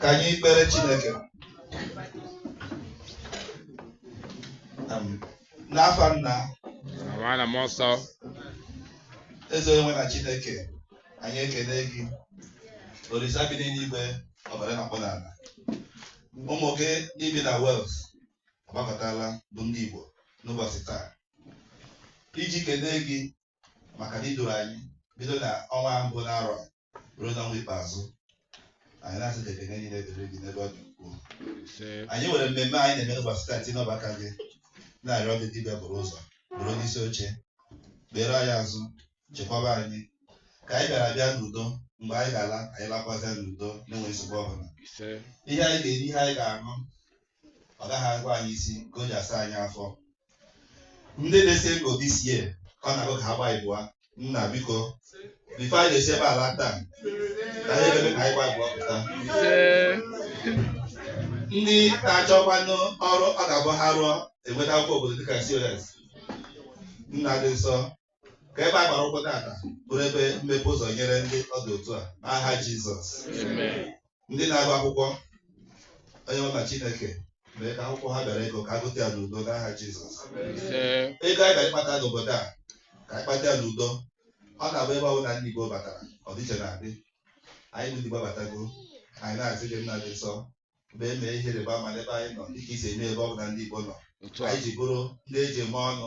ka anyị kpere Chineke n'afa nna na mmụọ nsọ eze onye nwe na Chineke anyị ekene gị Olisa bi n'eluigwe ọbara na-akpụ n'ala ụmụ gị ndị bi na Wales agbakọtala bụ ndị Igbo n'ụbọsị taa iji kenee gị maka na i duru anyị bido na ọnwa mbụ n'arọ ruo n'ọnwa ikpeazụ anyị na-asị na ekene niile dịrị gị n'ebe ọ dị ukwuu anyị nwere mmemme anyị na-eme n'ụbọsị taa tinye n'ọba aka gị na-arịọ gị gị bịa buru ụzọ bụrụ onye isi oche kpere anyị azụ chekwaba anyị ka anyị bịara bịa n'udo mgbe anyị ga-ala anyị lakwazịa n'udo na-enweghị nsogbu ọbụla ihe anyị ga-eri ihe anyị ga-aṅụ ọ gaghị awa anyị isi ka o ji asa anyị afọ ndị dị single this year ka ọ na-agụ ka ha gba ịbụa nna biko before anyị na-esi ebe a laa taa ka anyị ebe ka anyị gba ịbụa pụta ndị na-achọkwanụ ọrụ ọ ga-abụ ha rụọ enweta akwụkwọ obodo dịka insurance nna dị nsọ ka ebe a gbara ụkwụ taata bụrụ ebe mmepe ụzọ nyere ndị ọ dị otu a n'aha Jizọs ndị na-agụ akwụkwọ onye nwe na Chineke mee ka akwụkwọ ha bịara ịgụ ka ha gụta ya n'udo n'aha Jizọs ego anyị bịara ịkpata n'obodo a ka anyị kpata ya n'udo ọ na-abụ ebe ọ bụla ndị Igbo batara ọdịiche na-adị anyị bụ ndị Igbo batago anyị na-asị gị nna dị nsọ mgbe e mee ihe ịrịba ama n'ebe anyị nọ dịka i si eme ebe ọ bụla ndị Igbo nọ anyị ji bụrụ ndị e ji eme ọnụ